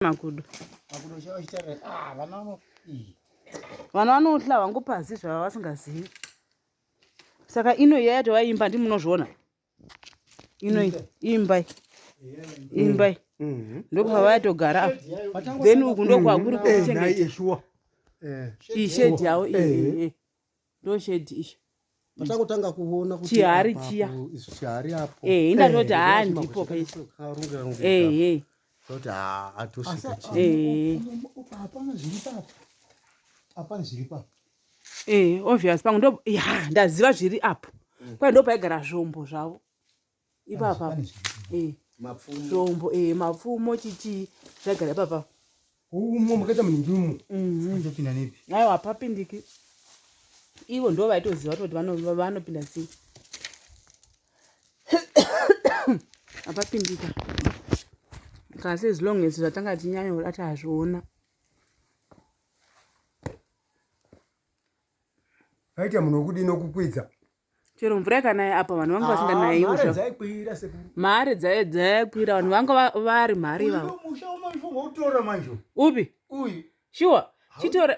makudo ah, vana vanohla hwangu pasi zvava vasingazivi saka ino iya yato vaimba ndi munozviona ino imbai imbai mm-hmm. ndokuva vayatogara apa then uku ndokwakuri kuchengeta ishedi yavo ndoshedhi izvo patangotanga kuona kuti chihari chiya chihari apo eh inda toti eh, haa ndipo pese eh eh toti haa atosvika chii eh hapana zviri papa hapana zviri papa eh obvious pangu ndo ya ndaziva zviri apo mm. kwai ndo paigara zvombo zvavo ipapa eh. zvombo eh, mapfumo chichii zvagara ipapa umo makaita muningi umo ndopinda mhm. nepi aiwa hapapindiki ivo ndo vaitoziva toti vanopinda sei hapapindika kasi as long as zvatanga tinyanya kuda tazviona aita munhu wekudini okukwidza chero mvura ikanaya apa vanhu vanga vasinganayi ah, mari dzayakwira vanhu vanga vari mari upi shuwa chitora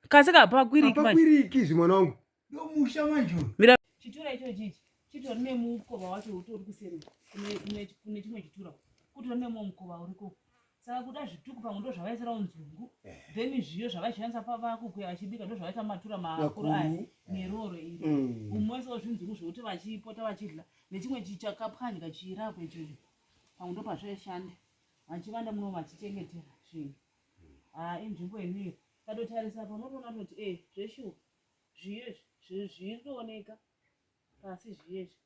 kasi kapakwiriki zvimwana wangu chitora icho chichi chitori nemukova wacho utori kuseri kune chimwe chitura kutori nemumwe mukova uriko saka kuda zvituku pamwe ndo zvavaisirawo nzungu then zviyo zvavaishandisa pavakukuya vachibika ndo zvavaita matura makuru aya neroro iri kumwaisawo zvinzungu zvekuti vachipota vachidla nechimwe chichakapwanyika chiirapo ichocho pamwe ndo pazvaishanda vachivanda muno vachichengetera zvinhu haa inzvimbo inoiyo katotarisa pa unotoona toti e zveshuwa zviyo izvi zviri kuoneka pasi zviyo izvi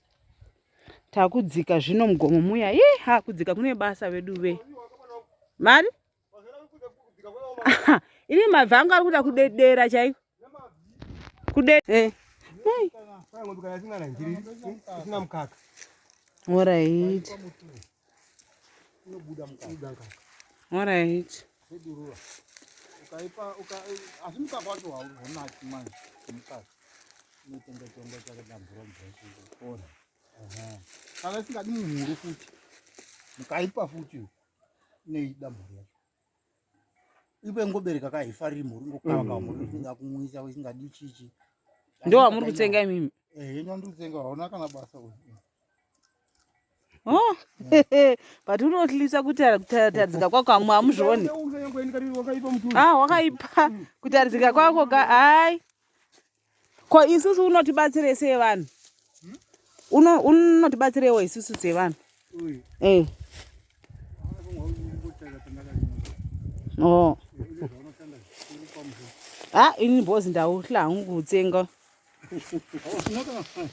takudzika zvino mugomo muya ye ha kudzika kune basa vedu ve mari ini mabvi angu ari kuda kudedera chaiko kudedera eh. All right. ukaipa asi mukaka wacho haunaki manje mukaka unotenga chombo chakadambura mvura kana isingadi munhu muru futi mukaipa futi nei dambura yacho iwe ngobereka ka haifariri mhuri ngokava kava mhuri usinga kumwisa usingadi chichi ndo wamuri kutsenga imimi eh yenyu ndiri kutsenga hauna kana basa uyu oh but unotlisa kuti kutadzika kwako amwe amuzvioni ah wakaipa kutadzika kwako ka ai ko isusu unotibatsirei sevanhu unotibatsireiwo isusu sevanhu eh. oh. ha ah, ini bhozi ndauhla hangu kutsenga